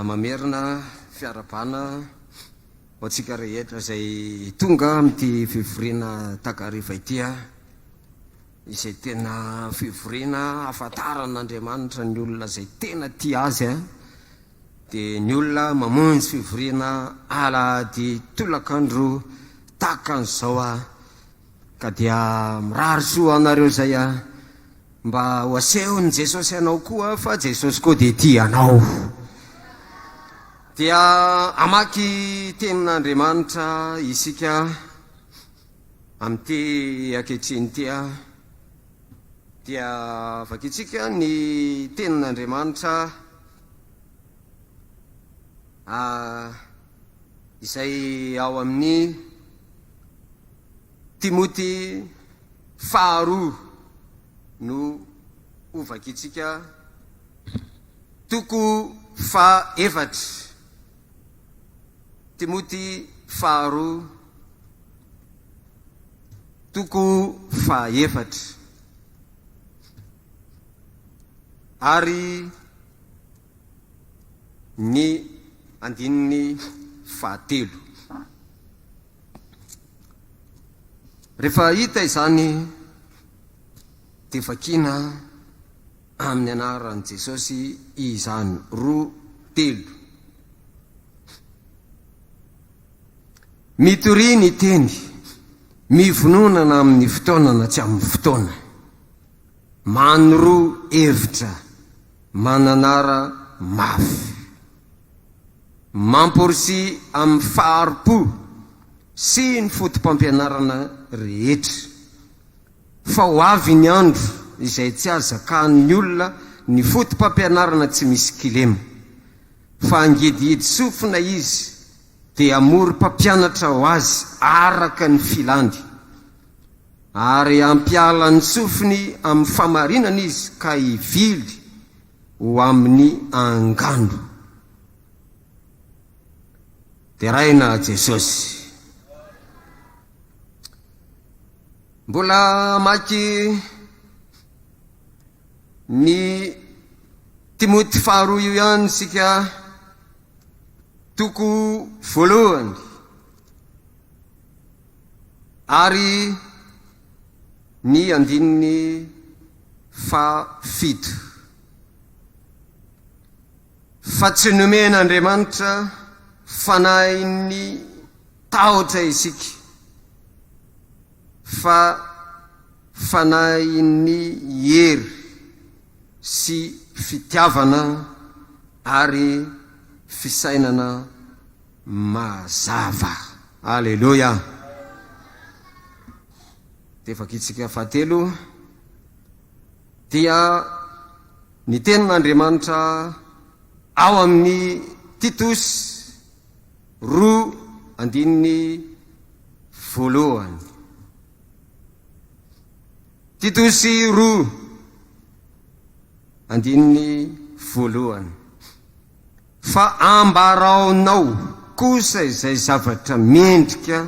Mamerina fiarahabana ho antsika rehetra izay tonga amin'ity fivoriana takariva ity, izay tena fivoriana ahafantaran'Andriamanitra ny olona izay tena tia Azy, dia ny olona mamonjy fivoriana alahady tolakandro tahaka an'izao. Ka dia mirary soa anareo izay a! Mba ho asehon'i Jesosy anao koa fa Jesosy koa dia tia anao. Dia hamaky tenin'Andriamanitra isika amin'ity ankehitriny ity a! Dia vakintsika ny tenin'Andriamanitra a! izay ao amin'ny. Timoty faharoa no ho vakintsika, toko fahaefatra. Timoty faharoa, toko fahaefatra. Ary ny andininy fahatelo. Rehefa hita izany dia vakiana amin'ny anaran'i Jesosy izany roa telo. Mitoria ny teny, mivononana amin'ny fotoana na tsy amin'ny fotoana. Manoro hevitra, mananara mafy. Mamporisy amin'ny fahari-po sy ny fotopampianarana rehetra, fa ho avy ny andro izay tsy hahazakan'ny olona ny fotopampianarana tsy misy kilema, fa hangidihidy sofina izy dia hamory mpampianatra ho azy araka ny filany, ary hampiala ny sofiny amin'ny famarinana izy ka hivily ho amin'ny angano. Deraina Jesosy. Mbola maky ny Timoty faharoa io ihany isika toko voalohany ary ny andininy fa fito fa tsy nomen'Andriamanitra fanahin'ny tahotra isika fa fanahin'ny hery sy fitiavana ary fisainana mazava. Aleloia! Dia vakitsika fahatelo, dia ny tenin'Andriamanitra ao amin'ny Titos roa andininy voalohany. Titosy roa andininy voalohany. Fa ambaraonao kosa izay zavatra mendrika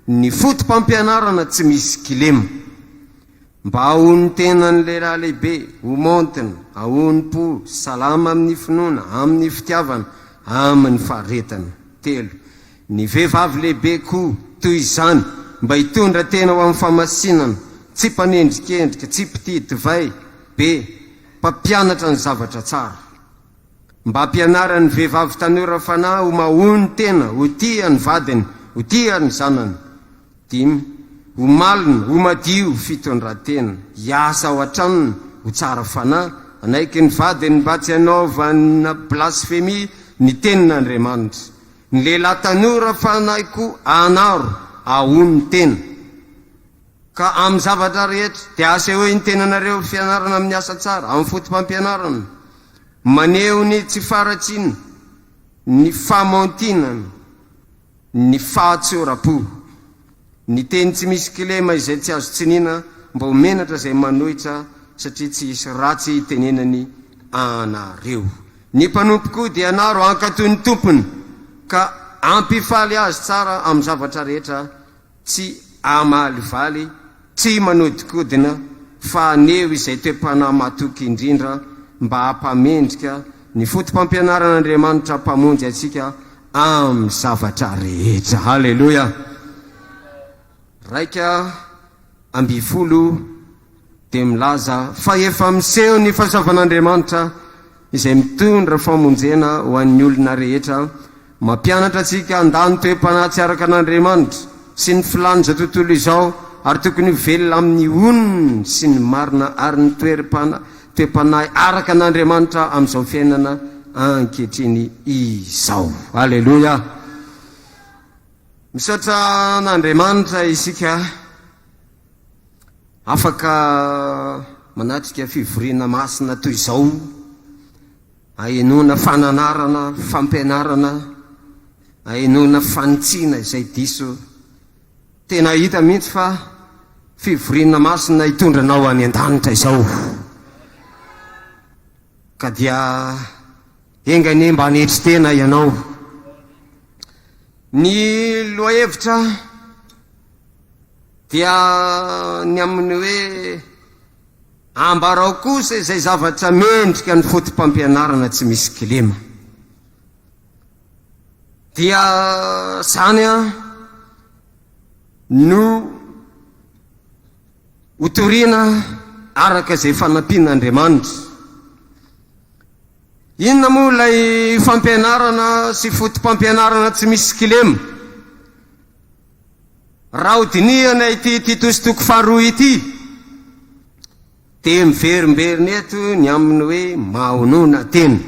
ny fotopampianarana tsy misy kilema. Mba ahoan'ny tenan'ny lehilahy lehibe, ho maontina, aonim-po, salama amin'ny finoana, amin'ny fitiavana, amin'ny faharetana. Telo. Ny vehivavy lehibe koa toy izany, mba hitondra tena ho amin'ny famasinana, tsy mpanendrikendrika, tsy mpitia divay be, mpampianatra ny zavatra tsara. Mba ampianara ny vehivavy tanora fanahy ho mahony tena, ho tia ny vadiny, ho tia ny zanany. Dimy, Ho malina, ho madio, fitondran-tena, hiasa ao an-tranony, ho tsara fanahy, hanaiky ny vadiny mba tsy hanaovana blasfemia ny tenin'Andriamanitra. Ny lehilahy tanora fanahy koa hanaro ahony tena. Ka amin'ny zavatra rehetra, dia asehoy ny tenanareo fianarana amin'ny asa tsara, amin'ny fotopampianarana, maneho ny tsy faharatsiana, ny famaontinana, ny fahatsoram-po, ny teny tsy misy kilema izay tsy azo tsiniana, mba ho menatra izay manohitra, satria tsy hisy ratsy hitenenany anareo. Ny mpanompo koa dia ianaro hankatò ny tompony, ka hampifaly azy tsara amin'ny zavatra rehetra, Tsy hamalivaly, tsy manodikodina, fa haneho izay toe-panahy matoky indrindra mba hampamendrika ny fotopampianaran'Andriamanitra Mpamonjy antsika amin'ny zavatra rehetra. Haleloia! Iraika ambin'ny folo. dia milaza fa efa miseho ny fahasoavan'Andriamanitra izay mitondra famonjena ho an'ny olona rehetra, mampianatra antsika handà ny toe-panahy tsy araka an'Andriamanitra sy ny filàn'izao tontolo izao ary tokony ho velona amin'ny onony sy ny marina ary ny toe-panahy araka an'Andriamanitra amin'izao fiainana ankehitriny izao. Aleloia! Misaotra an'Andriamanitra isika Afaka manatrika fivoriana masina toy izao ahenoana fananarana, fampianarana, ahenoana fanitsiana izay diso. Tena hita mihitsy fa fivoriana masina hitondra anao any an-danitra izao. Ka dia enga anie mba hanetry tena ianao. Ny lohahevitra Dia ny amin'ny hoe ambarao kosa izay zavatra mendrika ny fotopampianarana tsy misy kilema. Dia zany an no hotorina araka izay fanampian'Andriamanitra. Inona moa ilay fampianarana sy fotopampianarana tsy misy kilema? Raha hodinihana ity Titosy toko faharoa ity, dia miverimberina eto ny amin'ny hoe mahonona tena.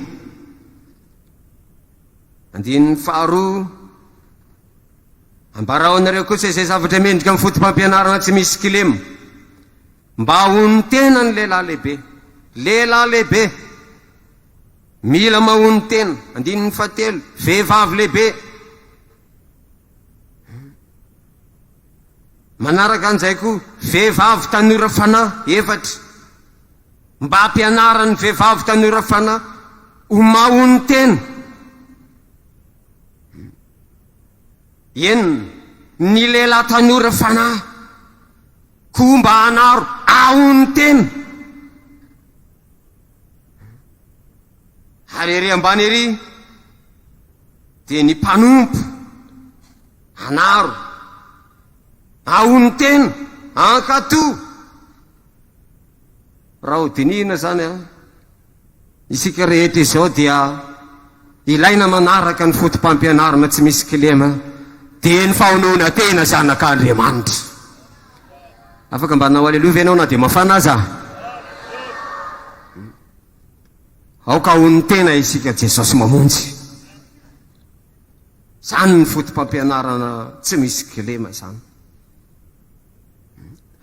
Andininy faharoa, ambarao anareo kosa izay zavatra mendrika amin'ny fotopampianarana tsy misy kilema. Mba hono tena ny lehilahy lehibe. Lehilahy lehibe. Mila mahono tena. Andininy fahatelo, vehivavy lehibe. Manaraka an'izay koa, vehivavy tanora fanahy efatra, mba hampianarany ny vehivavy tanora fanahy ho mahonotena. Enina, ny lehilahy tanora fanahy koa mba hanaro ahonotena. Ary ery ambany ery dia ny mpanompo anaro aonon-tena ankato raha ho dinihina zany a isika rehetra izao dia ilaina manaraka ny fotom-pampianarana tsy misy kilema dia ny fahonoana tena zanak'Andriamanitra afaka mba nanao aleloa ve ianao na dia mafana aza Aoka ho ny tena isika Jesosy mamonjy. Zany ny fotopampianarana tsy misy kilema zany.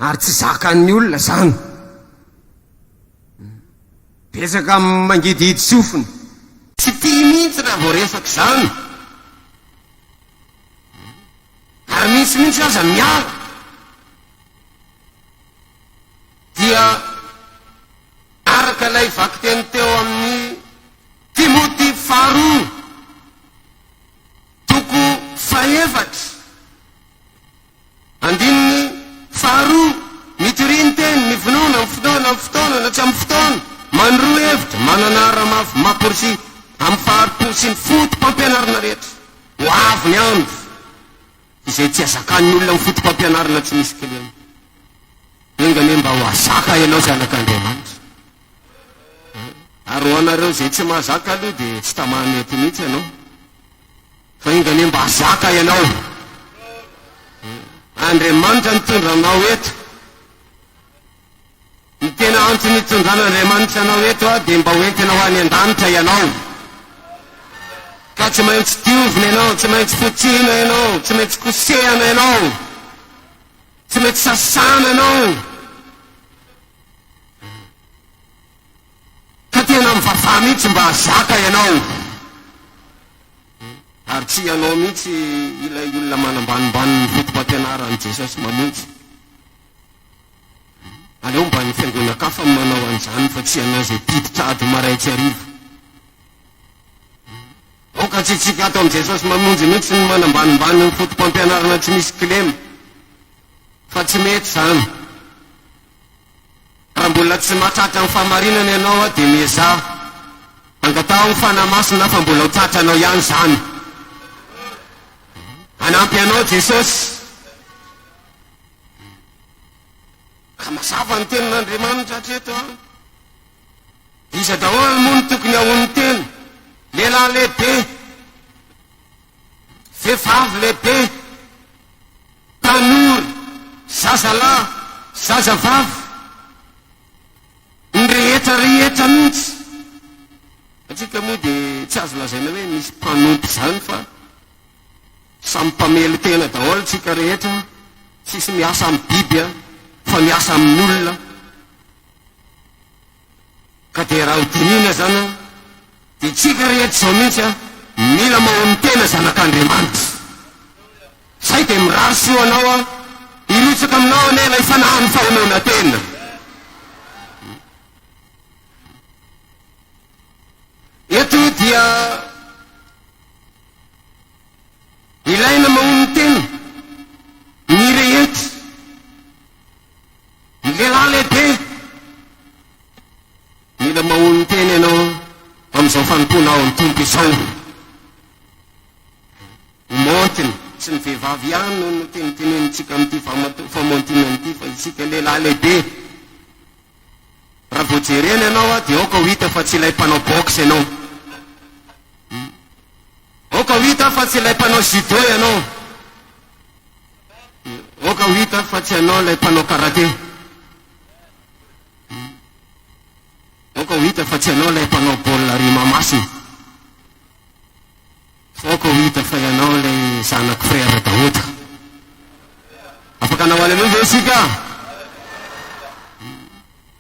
Ary tsy zakan'ny olona zany. Betsaka mangidihidy sofina. Tsy tia mihitsy raha vao resaka zany. Ary misy mihitsy aza miala. Dia Araka ilay vakiteny teo amin'ny Timoty faharoa, toko fahefatra, andininy faharoa, Mitoria ny teny, mivonona, amin'ny fotoana, amin'ny fotoana, na tsy amin'ny fotoana, manoro hevitra, manana ara-mafy, maporsi amin'ny fahari-po sy ny foto-pampianarana rehetra, ho avy ny andro. izay tsy azakan'ny olona amin'ny fotopampianarana tsy misy kilema. Enga anie mba ho azaka ianao zanak'Andriamanitra. Ary ho anareo izay tsy mahazaka aloha dia tsy tamaha mety mihitsy ianao. Fa enga anie mba azaka ianao. Andriamanitra nitondra anao eto. Ny tena antony itondran'Andriamanitra anao eto dia mba ho entina ho any an-danitra ianao. Ka tsy maintsy diovina ianao, tsy maintsy fotsiana ianao, tsy maintsy kosehana ianao, tsy maintsy sasana ianao. Ka tena mivavaha mihitsy mba hazaka ianao. Ary tsy ianao mihitsy ilay olona manambanimbany ny foto-pampianaran'i Jesosy mamonjy. Aleo mba ny fiangonankafa no manao an'izany fa tsy ianao izay mpiditra ady marain-tsy hariva. Aoka tsy hitsika ato amin'i Jesosy mamonjy mihitsy ny manambanimbany ny foto-pampianarana tsy misy kilema fa tsy mety izany. Raha mbola tsy mahatratra ny fahamarinana ianao dia miezaha angataho ny Fanahy Masina fa mbola ho tratranao ihany izany. Hanampy anao Jesosy. Ka mazava ny tenin'Andriamanitra hatreto an! Iza daholo moa no tokony hahono tena? Lehilahy lehibe, vehivavy lehibe, tanora, zazalahy, zazavavy, ny rehetra rehetra mihitsy. Antsika moa dia tsy azo lazaina hoe misy mpanompo izany fa Samy mpamely tena daholo tsika rehetra tsisy miasa am biby a fa miasa amin olona ka dia raha ho dinihina zany a dia tsika rehetra zao mintsy a mila mahono tena zanak Andriamanitra zay dia mirary soa anao a hirotsaka aminao anie ilay fanahin fahonoana tena. Eto dia ilaina mahonon-tena ny rehetra, ny lehilahy lehibe mila mahonon-tena ianao amin'izao fanompoana ao amin'ny Tompo izao. Ny maontina, tsy ny vehivavy ihany no notenitenenintsika amin'ity famontona ity fa isika lehilahy lehibe. Raha vao jerena ianao dia aoka ho hita fa tsy ilay mpanao boxe ianao. Aoka ho hita fa tsy ilay mpanao judo ianao. Aoka ho hita fa tsy ianao ilay mpanao karaté. Aoka ho hita fa tsy ianao ilay mpanao baolina ry Mahamasina. Aoka ho hita fa ianao ilay zanak'i Frère Daouda. Afaka hanao Alléluia ve isika?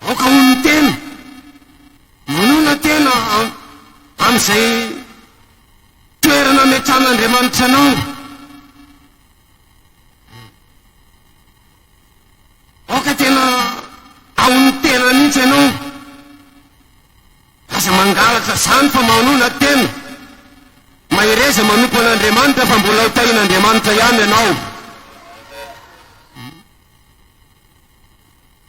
Aoka ho ny tena. Manona tena amin'izay toerana ametrahan'Andriamanitra anao. Aoka tena ao ny tena mihitsy ianao. Aza mangalatra zany fa manona tena. Mahereza manompo an'Andriamanitra fa mbola ho tahin'Andriamanitra ihany ianao.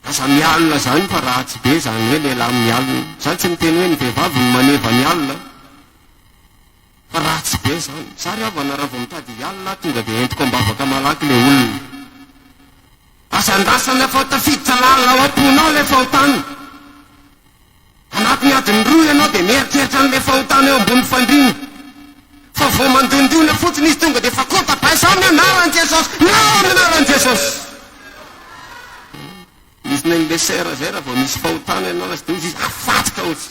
Aza mialona zany fa ratsy be zany hoe lehilahy mialona. Za tsy miteny hoe ny vehivavy no maneva ny alina fa ratsy be zany. Za ry havana raha vao mitady hialona aho tonga dia entiko ambavaka malaky le olona. Aza andrasana fa tafiditra lalina ao am-ponao le fahotana. Anatin'ny adiny roa ianao dia mieritreritra an'ilay fahotana eo ambonin'ny fandriana. Fa vao mandondona fotsiny izy tonga dia efa kota bay sa amin'ny anaran'i Jesosy na amin'ny anaran'i Jesosy. Izy na ilay sœur izay raha vao misy fahotana ianao na tsy dia hozy izy afatsika hozy.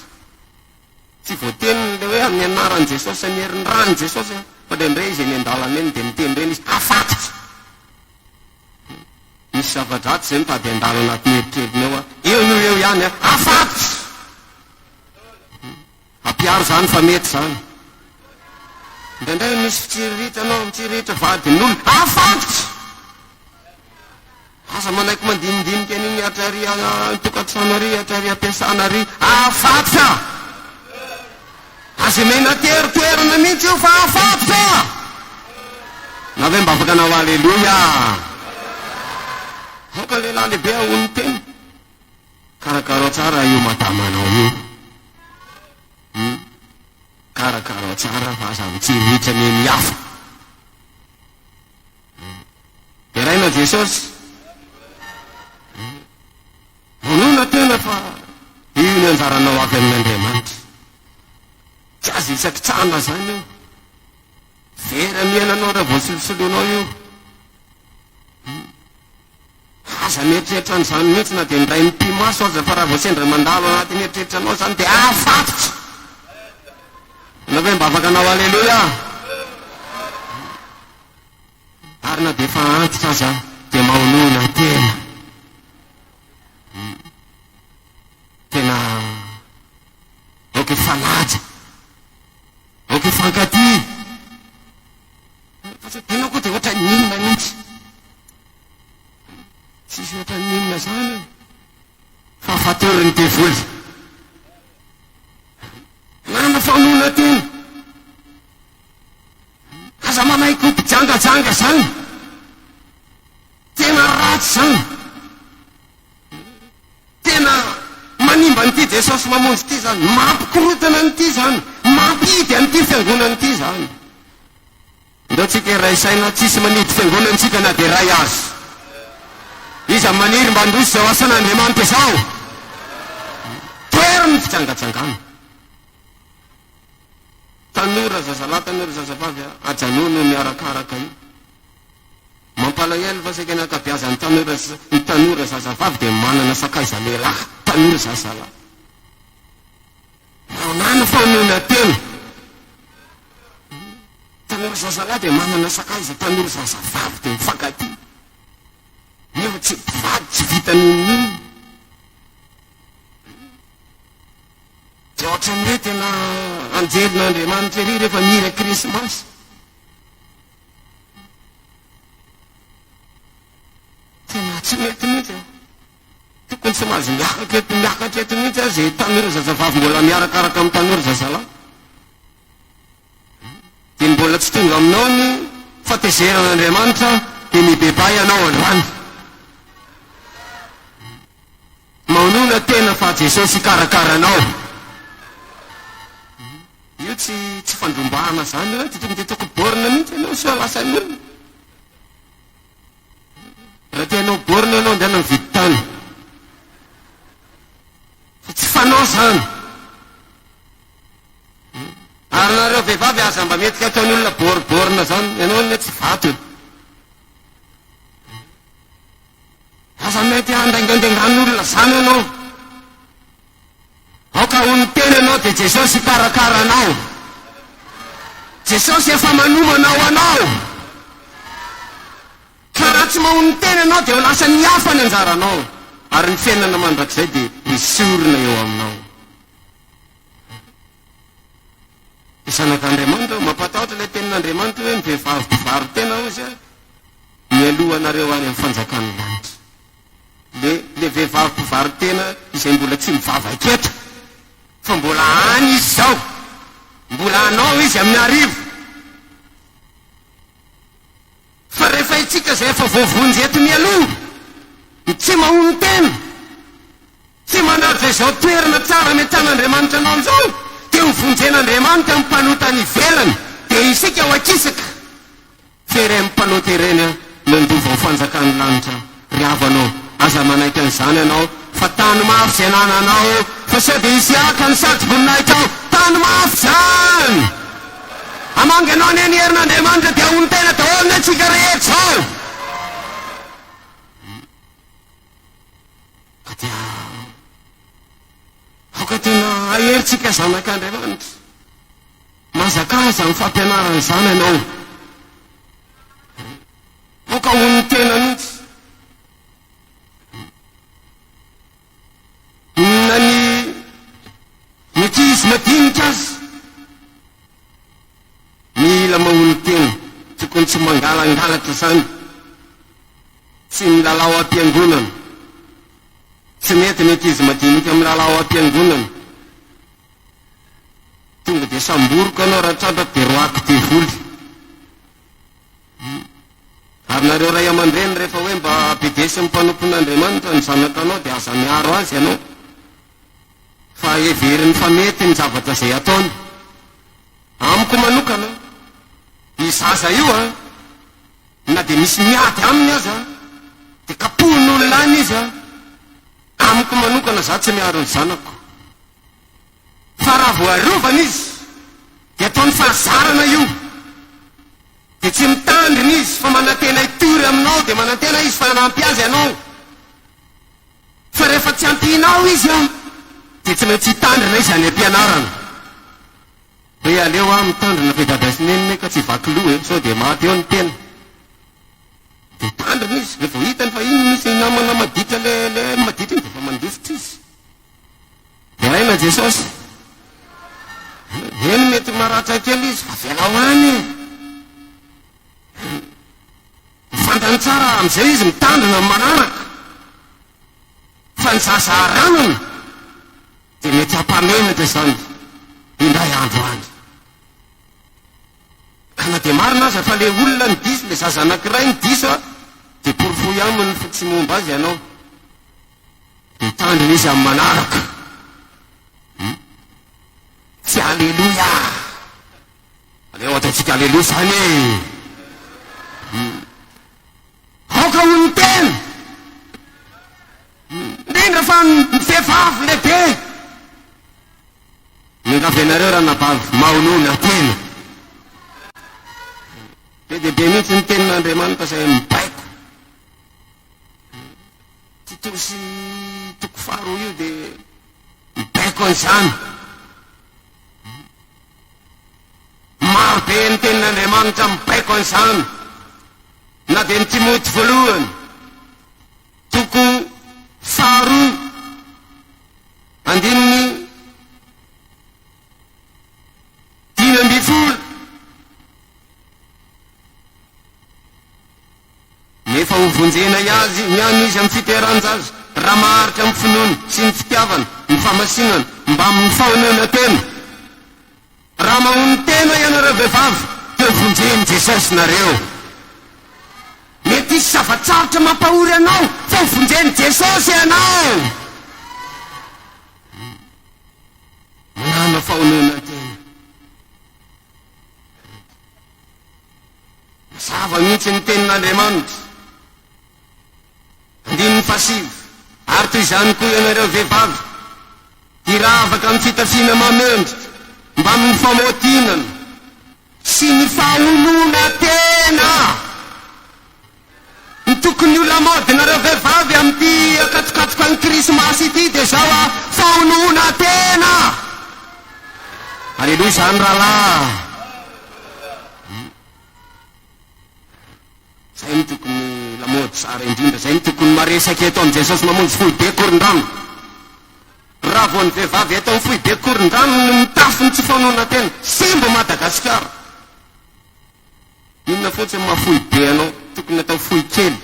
Tsy voateny ilay hoe amin'ny anaran'i Jesosy sy amin'ny herin'ny ran'i Jesosy fa indraindray izy eny an-dalana eny dia miteny ireny izy afatsika. Misy zava-dratsy izay mitady handalo anatin'ny eritreritrinao an! Eo io eo ihany an! Afatotra! Ampiaro izany fa mety izany. Indraindray misy fitsiriritranao, mitsiriritra vadin'olona. Afatotra! Aza manaiky mandinidinika an'iny hatra ary an-tokantrano ary hatra ary am-piasana ary. Afatotra! Aza omena toertoerana mihitsy io fa afatotra! Na ve mba afaka nanao Aleloia? Aoka ny lehilahy lehibe haono ny tena. Karakarao tsara io madamanao io. Hmm? Karakarao tsara fa aza mitsirihitra ny eny hafa. Hmm? Deraina Jesosy. Vonona tena fa io ny anjaranao avy amin'Andriamanitra. Tsy azo isakitsahana izany io. Very amin'ny iainanao raha vao solosoloinao io. Aza mieritreritra an'izany mihitsy na dia ny iray mipi-maso aza fa raha vao sendra mandalo anatin'ny eritreritranao izany dia afatotra. Ianao ve mba afaka hanao Aleloia? Ary na dia efa antitra aza dia maonoana tena. Tena ok fanaja. Ok fankatia. Fa tsy hainao koa dia ohatran'ny inona mihitsy. Tsisy ohatran'ny inona izany io fa fatorin'ny devoly. Lany faonoana tena. Aza manaiky ho mpijangajanga izany. Tena ratsy izany. Tena manimba an'ity Jesosy Mamonjy ity izany. Mampikorontana an'ity izany. Mampihidy an'ity Fiangonana ity izany. Andao tsika hiray saina, tsy hisy manidy Fiangonana antsika na dia iray aza. Iza maniry mba handroso izao asan'Andriamanitra izao? Toero ny fijangajangana. Tanora, zazalahy, tanora, zazavavy a! Ajanony io miarakaraka io. Mampalahelo fa saika ny ankabiazan'ny tanora sy ny tanora zazavavy dia manana sakaiza lehilahy, tanora zazalahy. Nahoana no famonoana tena? Tanora zazalahy dia manana sakaiza, tanora zazavavy dia mifankatia. Nefa tsy mpivady, tsy vitan'inon'inona. Dia ohatran'ny hoe tena anjelin'Andriamanitra ery rehefa mihira Krismasy. Tena tsy mety mihitsy e. Tokony tsy mahazo miakatra eto miakatra eto mihitsy aza e, tanora zazavavy mbola miarakaraka amin'ny tanora zazalahy. Dia mbola tsy tonga aminao ny fatezeran'Andriamanitra dia mibebaha ianao androany. Manoloana tena fa Jesosy hikarakara anao. Io tsy tsy fandrombahana zany oe tokony de tokony borne mihitsy ianao sao lasa ny olona. Raha te hanao borne ianao andeha mividy tany. Fa tsy fanao zany. Ary nareo vehivavy aza mba mety ataon'ny olona bor borne zany, ianao anie tsy vato e. Aza mety handaingaindaingan'olona zany anao. Aoka ho ny tenanao dia Jesosy hikarakara anao. Jesosy efa manomana ho anao. Ka raha tsy maho ny tenanao dia ho lasan'ny hafa ny anjaranao ary ny fiainana mandrakizay dia hesorina eo aminao. Ny zanak'Andriamanitra, mampatahotra ilay tenin'Andriamanitra hoe, Ny vehivavy mpivaro tena, hoy Izy, mialoha anareo any amin'ny fanjakan'ny lanitra. Ilay, ilay vehivavy mpivaro tena izay mbola tsy mivavaka eto, fa mbola any Izy izao. Mbola hanao Izy amin'ny hariva. Fa rehefa itsika izay efa voavonjy eto mialoha, ny tsy mahonotena, Tsy manaja izao toerana tsara ametrahan'Andriamanitra anao izao dia ho vonjen'Andriamanitra amin'ny mpanota any ivelany dia isika ho akisaka. Tsy ireny mpanota ireny no handova ho fanjakan'ny lanitra ry havana ô, aza manaiky an'izany ianao fa tany mafy izay anananao eo fa sao dia hisy haka ny satroboninahitra ao, tany mafy izany! Hamangy anao anie ny herin'Andriamanitra dia hahonon-tena daholo anie isika rehetra izao. Ka dia aoka tena aherintsika zanak'Andriamanitra. Mahazakazaka amin'ny fampianarana izany ianao. Aoka ho ny tena mihitsy. Na ny mety hisy madinika aza. Mila mamono tena, tokony tsy mangalangalatra zany, tsy milalao ampiangonana, tsy mety ny ankizy madinika milalao ampiangonana, tonga dia samboroka ianao raha tratra dia roaky devoly, ary nareo ray aman-dreny rehefa hoe mba bedesy ny mpanompon'Andriamanitra ny zanakanao dia aza miaro azy ianao, fa heveriny fa mety ny zavatra izay ataony. Amiko manokana, io zaza io an, na dia misy miady aminy aza, dia kapohin'olona any izy an. Amiko manokana, za tsy miaro ny zanako. Fa raha vao arovana izy, dia ataony fahazarana io. Dia tsy mitandrina izy, fa manantena hitory aminao, dia manantena izy fa hanampy azy ianao. Fa rehefa tsy ampianao izy an, dia tsy maintsy hitandrina izy any ampianarana. Hoe aleo aho mitandrina fa i Dada sy Neny ka tsy vaky loha e, sao dia maty eo ny tena. Dia hitandrina izy, dia vao hitany fa iny misy namana maditra le le maditra iny dia efa mandositra izy. Deraina Jesosy. Eny mety maratra kely izy fa avelao any e. Ho fantany tsara amin'izay izy mitandrina amin'ny manaraka fa ny zaza aranany dia mety hampamenatra izany indray andro any. Ka na dia marina aza fa ilay olona no diso, ilay zaza anankiray no diso dia porofoy aminy fa tsy momba azy ianao. Hitandrina izy amin'ny manaraka. Tsy aleloia! Aleo ataontsika aleloa izany e! Aoka ho ny tena! Indrindra fa ny vehivavy lehibe! Miangavy anareo ranabavy maonona tena! Be dia be mihitsy ny tenin'Andriamanitra izay mibaiko. Tito sy toko faharoa io dia mibaiko an'izany. Maro be ny tenin'Andriamanitra mibaiko an'izany, na dia ny Timoty voalohany, toko faharoa, andininy dimy ambin'ny folo. Nefa hovonjenay azy ny any izy amin'ny fiterahan-jaza, raha maharitra amin'ny finoana sy ny fitiavana ny famasinana mbamin'ny fahonena tena. Raha mahon'ny tena ianareo vehivavy, dia hovonjen'i Jesosy nareo. Mety hisy zava-tsarotra mampahory anao, fa hovonjen'i Jesosy ianao. Manana fahonenan-tena. Mazava mihitsy ny tenin'Andriamanitra, andininy fahasivy, Ary toy izany koa ianareo vehivavy, hiravaka amin'ny fitafiana mahamendrika, mbamin'ny famotinana sy ny faholoana tena. Mitokony ho lamaody nareo vehivavy amin'ity akatokatokan'ny Krismasy ity dia zao a, fahonohona tena! Aleloia izany rahalahy a! Zay no tokony lamaody tsara indrindra, zay no tokony maresaka eto amin'i Jesosy mamonjy foibe korondrano. Raha vao ny vehivavy eto amin'ny foibe korondrano no mitafy ny tsy fahonohona tena, simba Madagasikara! Inona fotsiny maha fohy be anao? Tokony atao fohy kely.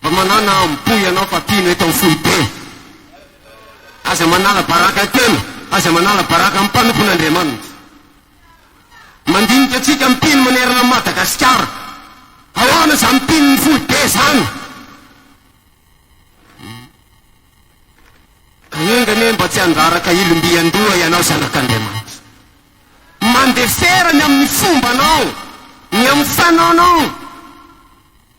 Mba manana amim-po ianao fa tianao atao fohy be. Aza manala baraka an-tena, aza manala baraka amin'ny mpanompon'Andriamanitra. Mandinika antsika mpino manerana an'i Madagasikara. Ahoana izany mpino fohy be izany? Ka enga anie mba tsy handraraka ilom-by an-doha ianao zanak'Andriamanitra. Mandefera ny amin'ny fombanao, ny amin'ny fanaonao,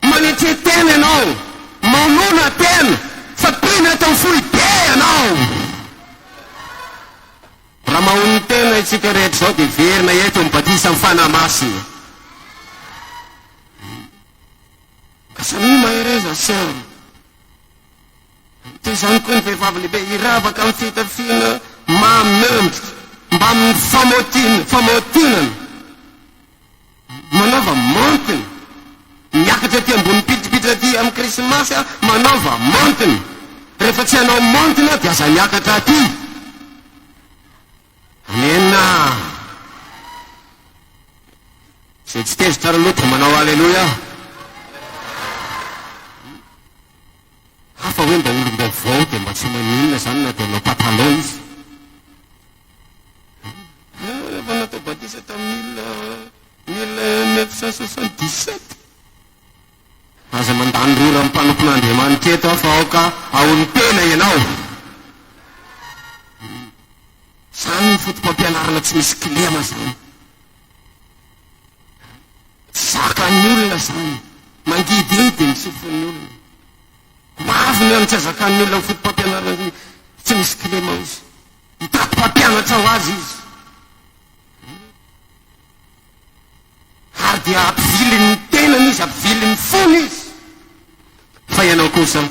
manetria tena ianao, manona tena fa mpino eto amin'ny foibe ianao. Raha mahono tena isika rehetra izao dia hiverina eto amin'ny batisan'ny Fanahy Masina. Ka samia mahereza sœur. Toy izany koa ny vehivavy lehibe hiravaka amin'ny fitafiana mahamendrika mbamin'ny famaotiana, famaotinana, manaova maontina, miakatra aty ambony mpidimpiditra aty amin'ny Krismasy aho manaova maontina, rehefa tsy hanao maontina aho dia aza miakatra aty. Amena. Izay tsy tezitra ary aloha dia manao Alléluia. Hafa hoe mba olom-baovao dia mba tsy maninona izany na dia hanao patalao izy. Rehefa natao batisa tamin'ny mille neuf cent soixante dix sept. Aza mandany rora amin'ny mpanompon'Andriamanitra eto aho fa aoka haon'ny tena ianao. Izany ny foto-pampianarana tsy misy kilema izany. Tsy zakan'ny olona izany. Mangidihidy ny sofin'ny olona. Maro ny any tsy azakan'ny olona ny fotopampianarana tsy misy clémence. Hitaky mpampianatra ho azy izy. Ary dia hampiviliny ny tenany izy, hampiviliny ny fony izy. Fa ianao kosa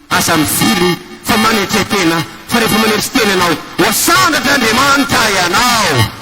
aza mivily fa manetre-tena, fa rehefa manetre-tena ianao, ho asandratra Andriamanitra ianao.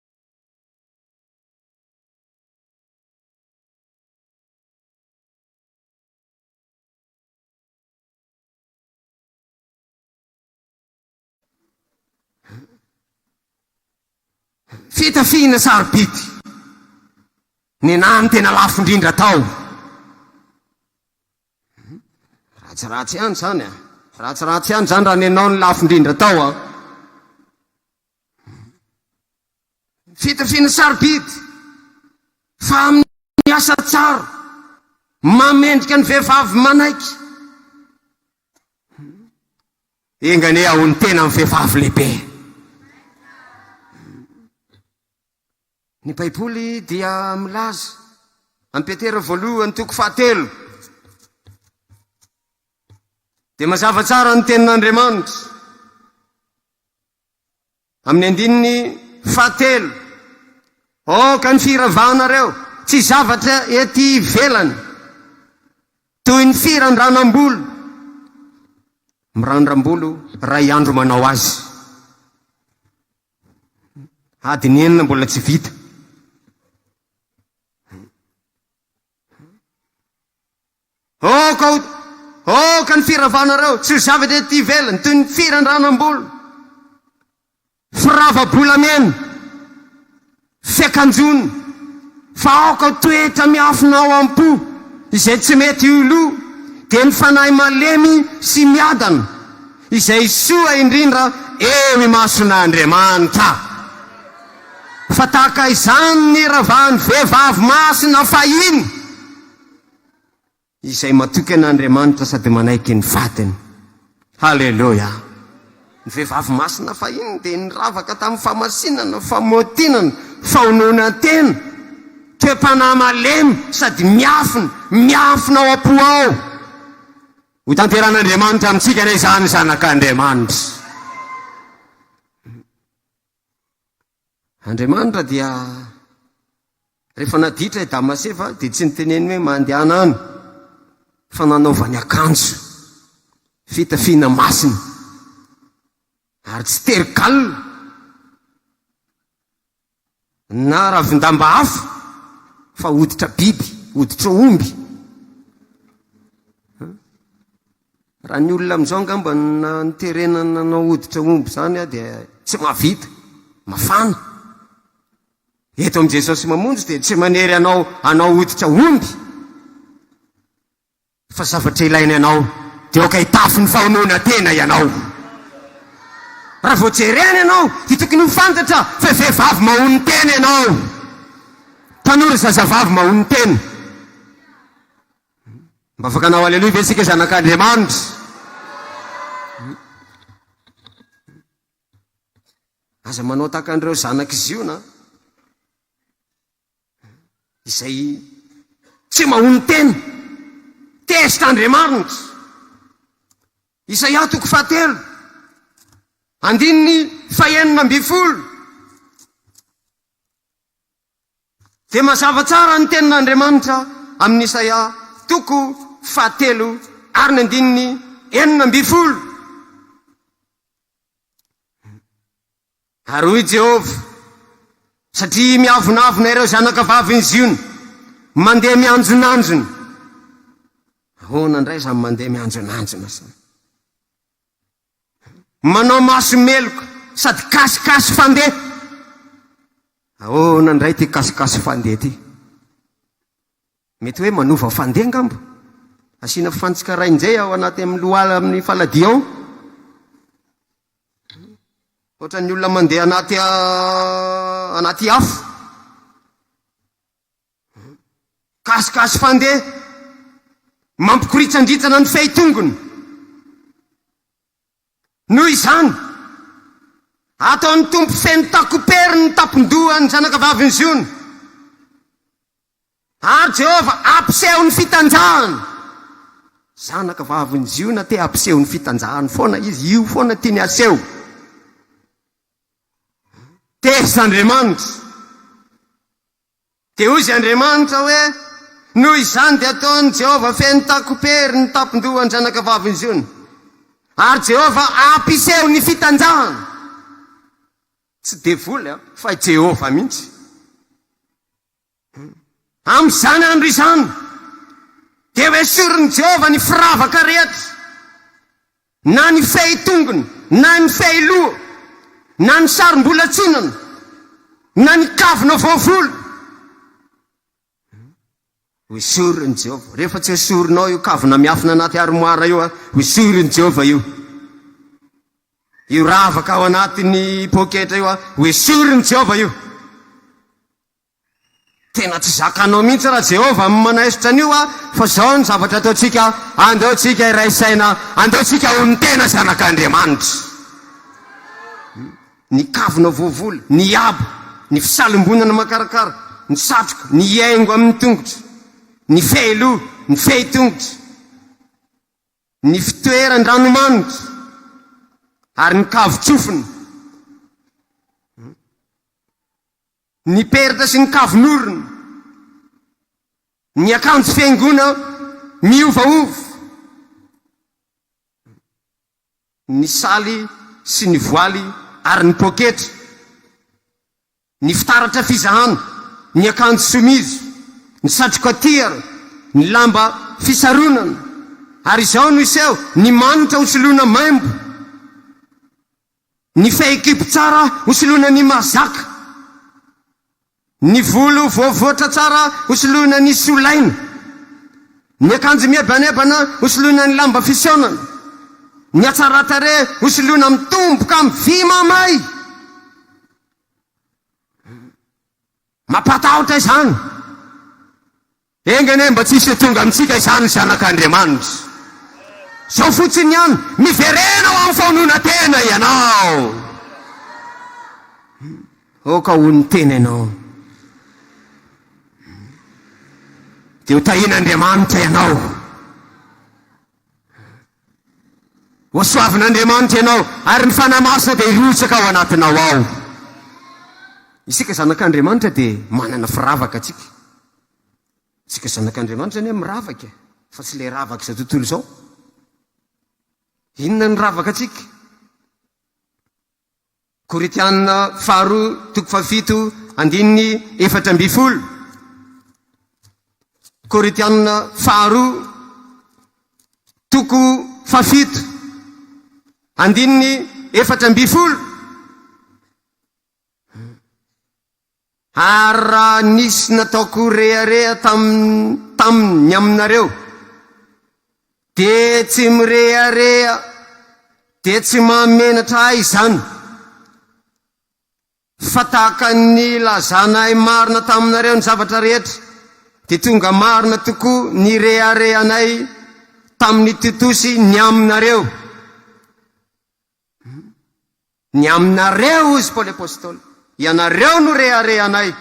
Fitafiana sarobidy. Nenaha ny tena lafo indrindra tao. Ratsiratsy ihany izany a. Ratsiratsy ihany izany raha nenao ny lafo indrindra tao a. Fitafiana sarobidy fa amin'ny asa tsara mamendrika ny vehivavy manaiky. Enga anie aho ny tena amin'ny vehivavy lehibe. Ny Baiboly dia milaza, amin'i Petera voalohany toko fahatelo, dia mazava tsara ny tenin'Andriamanitra. Amin'ny andininy fahatelo, Aoka ny firavanareo tsy zavatra ety ivelany, toy ny firandranam-bolo, mirandram-bolo iray andro manao azy, adiny enina mbola tsy vita. Aoka ho Aoka ny firavanareo tsy ho zavatra ety ivelany toy ny firandranam-bolo, firava-bolamena, fiakanjoana, fa aoka ho toetra miafina ao am-po izay tsy mety ho lo, dia ny fanahy malemy sy miadana, izay soa indrindra eo imason'Andriamanitra. Fa tahaka izany ny iravan'ny vehivavy masina fahiny, izay matoky an' Andriamanitra sady manaiky ny vadiny. Haleloia! Ny vehivavy masina fahiny dia niravaka tamin'ny fahamasinana, famotinana, fahononan-tena, toe-panahy malemy sady miafina, miafina ao am-po ao. Hotanteran' Andriamanitra amintsika anie izany, zanak' Andriamanitra. Andriamanitra dia rehefa naditra i Damasefa dia tsy niteneny hoe mandehana any fa nanaovany akanjo fitafiana masina ary tsy tery galona na ravindamba hafa fa hoditra biby, hoditra omby. Raha ny olona amin'izao angamba na niterena nanao hoditra omby izany dia tsy mahavita, mafana. Eto amin'i Jesosy mamonjy dia tsy manery anao hanao hoditra omby fa zavatra ilainy anao dia aoka hitafy ny fahonoana tena ianao. Raha vao jerena ianao dia tokony ho fantatra fa vehivavy mahono tena ianao. Tanora zazavavy mahono tena. Mba afaka hanao Aleloia ve isika zanak'Andriamanitra? Aza manao tahaka an'ireo zanak'i Ziona izay tsy mahony tena. Test Andriamanitra. Isaia toko fahatelo. Andininy fahenina ambin'ny folo. Dia mazava tsara ny tenin'Andriamanitra amin'i Isaia toko fahatelo ary ny andininy enina ambin'ny folo. Ary hoy Jehovah, Satria miavonavona ireo zanakavavin'i Ziona, mandeha mianjonanjona. Ahoana indray izany mandeha mianjonanjona izany? Manao maso meloka sady kasikasy fandeha. Ahoana indray ity kasikasy fandeha ity? Mety hoe manova fandeha angamba? Asiana fantsika rain-jay ao anaty amin'ny lohala amin'ny faladia ao. Ohatran'ny olona mandeha anaty anaty afo. Gasigasy fandeha mampikoritsandrintsana ny fehi-tongony. Noho izany, ataon'ny Tompo feno takopery ny tampon-dohan'ny zanakavavin'i Ziona. Ary Jehovah hampiseho ny fitanjahany. Zanakavavin'i Ziona te hampiseho ny fitanjahany foana izy, io foana tiany haseho. Tezitra Andriamanitra. Dia hoy izy Andriamanitra hoe, Noho izany dia ataon'i Jehovah feno takom-pery ny tampon-dohan'ny zanakavavin'i Ziona, ary Jehovah hampiseho ny fitanjahany. Tsy devoly, fa i Jehovah mihitsy. Amin'izany andro izany, dia ho esorin'i Jehovah ny firavaka rehetra, na ny fehitongony, na ny fehiloha, na ny sarom-bolatsinana, na ny kavina voavolo. Ho esorin'i Jehovah. Rehefa tsy esorinao io kavina miafina anaty arimoara io, ho esorin'i Jehovah io. Io ravaka ao anatin'ny poketra io, ho esorin'i Jehovah io. Tena tsy zakanao mihitsy ra Jehovah am manaisotra an'io a! Fa zao ny zavatra ataontsika, andao tsika hiray saina, andao tsika ho ny tena zanak'Andriamanitra. Ny kavina voavola, ny haba, ny fisalimbonana makarakara, ny satroka, ny hiaingo amin'ny tongotra, ny fehiloha, ny fehitongotra, ny fitoeran-dranomanitra, ary ny kavin-tsofina. Ny peratra sy ny kavon'orona, ny akanjo fihaingoana miovaova, ny saly sy ny voaly ary ny poketra, ny fitaratra fizahana, ny akanjo somizo, ny satroka tiara, ny lamba fisaronana ary izao no iseho ny manitra ho soloina maimbo. Ny fehikibo tsara hosoloina ny mazaka. Ny volo voavoatra tsara hosoloina ny solaina. Ny akanjo mihebanebana hosoloina ny lamba fisaonana. Ny hatsaran-tarehy hosoloina mitomboka amin'ny vy mamay. Mampatahotra izany! Enga anie mba tsy hisy tonga amintsika izany zanak'Andriamanitra. Izao fotsiny ihany, miverena ho amin'ny faononan-tena ianao. Aoka ho ny tena ianao. Dia ho tahin'Andriamanitra ianao. Hosoavin'Andriamanitra ianao, ary ny Fanahy Masina dia hirotsaka ao anatinao ao. Isika zanak'Andriamanitra dia manana firavaka atsika. Isika zanak'Andriamanitra anie miravaka, fa tsy ilay ravaka izao tontolo izao. Inona ny ravaka atsika? Korintiana faharoa toko fahafito andininy efatra ambin'ny folo Korintiana faharoa toko fahafito andininy efatra ambin'ny folo Ary raha nisy nataoko rehareha tamin tamin ny aminareo, dia tsy mirehareha, dia tsy mahamenatra ahy izany, fa tahaka ny nilazanay marina taminareo ny zavatra rehetra, dia tonga marina tokoa ny reharehanay tamin i Titosy ny aminareo. Ny aminareo, hozy Paoly Apostoly, ianareo no reharehanay.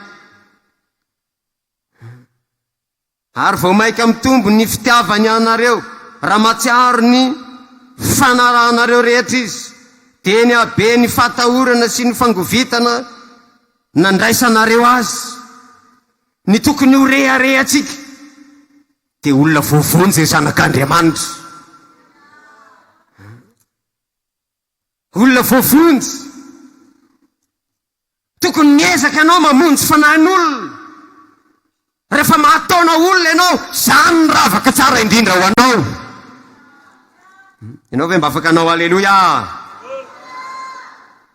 Ary vao mainka mitombo ny fitiavany anareo raha mahatsiaro ny fanarahanareo rehetra izy. Dia ny habe ny fahatahorana sy ny fangovitana nandraisanareo azy. Ny tokony ho reharehantsika dia olona voavonjy zanak'Andriamanitra. Olona voavonjy. Tokony miezaka ianao mamonjy fanahin'olona. Rehefa mahataona olona ianao, izany no ravaka tsara indrindra ho anao. Ianao ve mba afaka hanao Aleloia?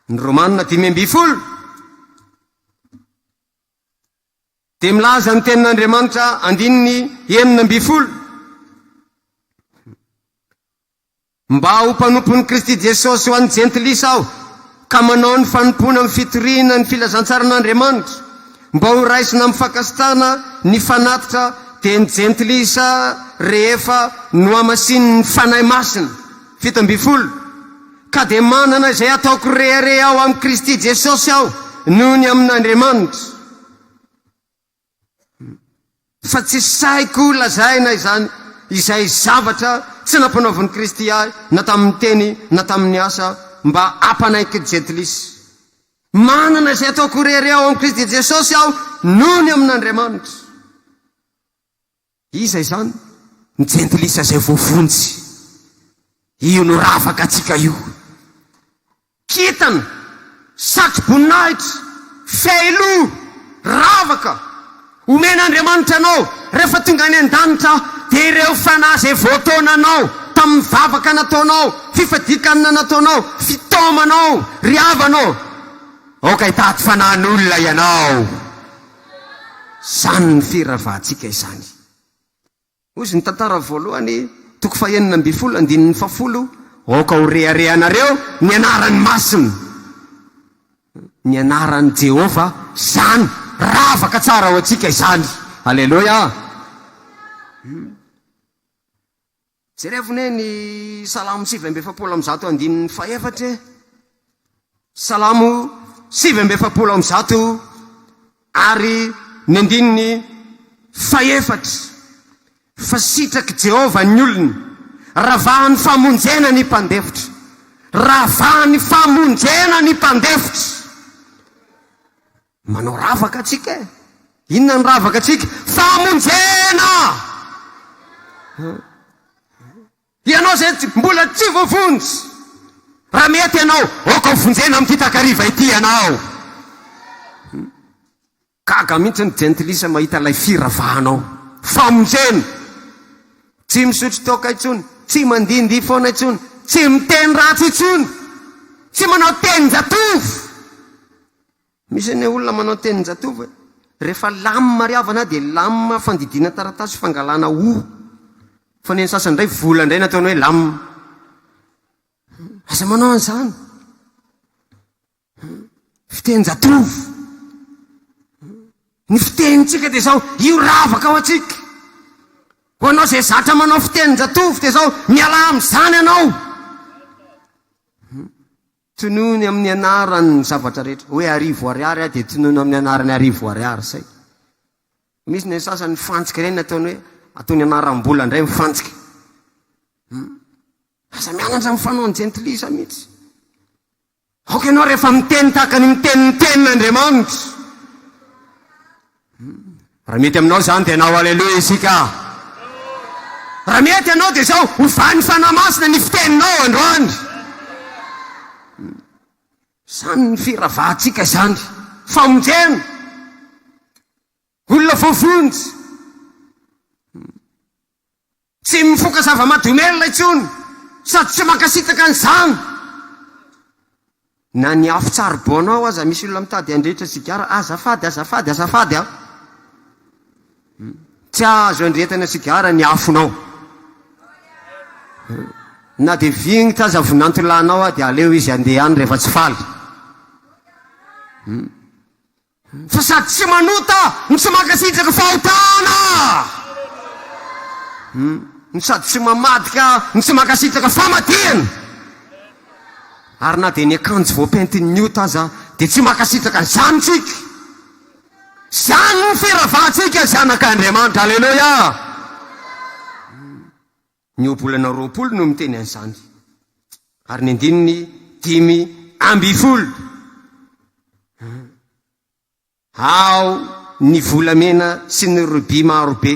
Ny Romana dimy ambin'ny folo dia milaza ny tenin'Andriamanitra andininy enina ambin'ny folo. Mba ho mpanompon'i Kristy Jesosy ho an'ny Jentilisa aho, ka manao ny fanompoana amin'ny fitoriana ny filazantsaran'Andriamanitra, mba ho raisina amin'ny fankasitrahana ny fanatitra dia ny Jentilisa rehefa nohamasinin'ny Fanahy Masina. Fito ambin'ny folo. Ka dia manana izay ataoko reheareha ao amin'i Kristy Jesosy aho noho ny amin'Andriamanitra. Fa tsy sahiko lazaina izany, izay zavatra tsy nampanaovin'i Kristy ahy na tamin'ny teny na tamin'ny asa, mba hampanaiky jentilisa. Manana izay ataoko irery ao amin'i Kristy Jesosy aho nony amin'Andriamanitra. Iza izany? Ny jentilisa izay voavonjy. Io no ravakantsika io. Kintana, satroboninahitra, fehiloha, ravaka, omen'Andriamanitra anao rehefa tonga any an-danitra dia ireo fanahy izay voataonanao tamin'ny vavaka nataonao, fifadian-kanina nataonao, fitaomanao, ry havana ô! Aoka hitady fanahin'olona ianao. Izany ny firavantsika izany. Hoy izy, Ny tantara voalohany, toko fahenina ambin'ny folo, andininy fahafolo, Aoka ho reharehanareo ny anarany masina. Ny anaran'i Jehovah izany. Ravaka tsara ho antsika izany. Aleloia! Jerevo anie ny Salamo sivy amby efapolo amby zato andininy fahefatra e! Salamo sivy amby efapolo amby zato ary ny andininy fahefatra fa sitrak'i Jehovah ny olony, ravahan'ny famonjena ny mpandefitra. Ravahan'ny famonjena ny mpandefitra. Manao ravaka atsika e! Inona ny ravaka atsika? Famonjena! Ianao zay mbola tsy voavonjy, raha mety ianao, aoka ho vonjena amin'ity takariva ity ianao. Hmm. Gaga mihitsy ny jentilisa mahita ilay firavahanao. Famonjena! Tsy misotro toaka intsony, tsy mandindy foana intsony, tsy miteny ratsy intsony, tsy manao tenin-jatovo. Misy anie olona manao tenin-jatovo hoe, rehefa lam ary havana dia lam fandidiana taratasy fangalana o. Fa ny an'ny sasany indray vola indray no ataony hoe lam. Aza manao an'izany. Fitenin-jatovo. Ny fitenintsika dia izao, io ravaka ao antsika. Ho anao izay zatra manao fitenin-jatovo dia izao, mialà amin'izany ianao. Tonony amin'ny anaran' ny zavatra rehetra. Hoe arivo ariary aho dia tonony amin'ny anaran' ny arivo ariary. Zay. Misy ny sasany ny fantsika ireny ataony hoe ataony anaram-bola indray ny fantsika. Hmm. Aza mianatra amin'ny fanaon'ny jentilisa mihitsy. Aoka ianao rehefa miteny tahaka ny miteny ny tenin'Andriamanitra. Raha mety aminao izany dia anao Aleloia isika. Raha mety anao dia izao, ovan'ny Fanahy Masina ny fiteninao androany. Izany ny firavahantsika izany. Famonjena. Olona voavonjy. Tsy mifoka zava-mahadomelina intsony sady tsy mankasitraka an'izany. Na ny afo charbon ao aza misy olona mitady handrehitra sigara. Azafady, azafady, azafady an! Tsy azo andrehetana sigara ny afonao. Na dia vingitra aza vinantolahinao dia aleo izy handeha any rehefa tsy faly. Fa sady tsy manota no tsy mankasitraka fahotana, no sady tsy mamadika no tsy mankasitraka famadihana, ary na dia ny akanjo voapentin'ny ota aza dia tsy mankasitraka an'izany isika. Izany no firavantsika zanak'Andriamanitra. Aleloia! Ny ohabolana roapolo no miteny an'izany, ary ny andininy dimy amby folo, Ao ny volamena sy ny rubis maro be,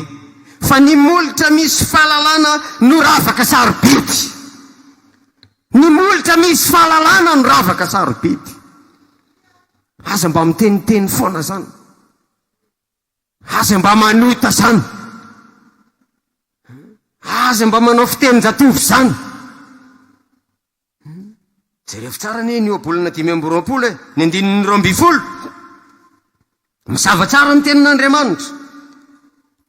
fa ny molotra misy fahalalana no ravaka sarobidy. Ny molotra misy fahalalana no ravaka sarobidy. Aza mba miteniteny foana zany. Aza mba manota zany. Aza mba manao fitenin-jatovo zany. Jereo tsara anie ny ohabolana dimy amby roapolo e, ny andininy roa ambin'ny folo. Mazava tsara ny tenin'Andriamanitra.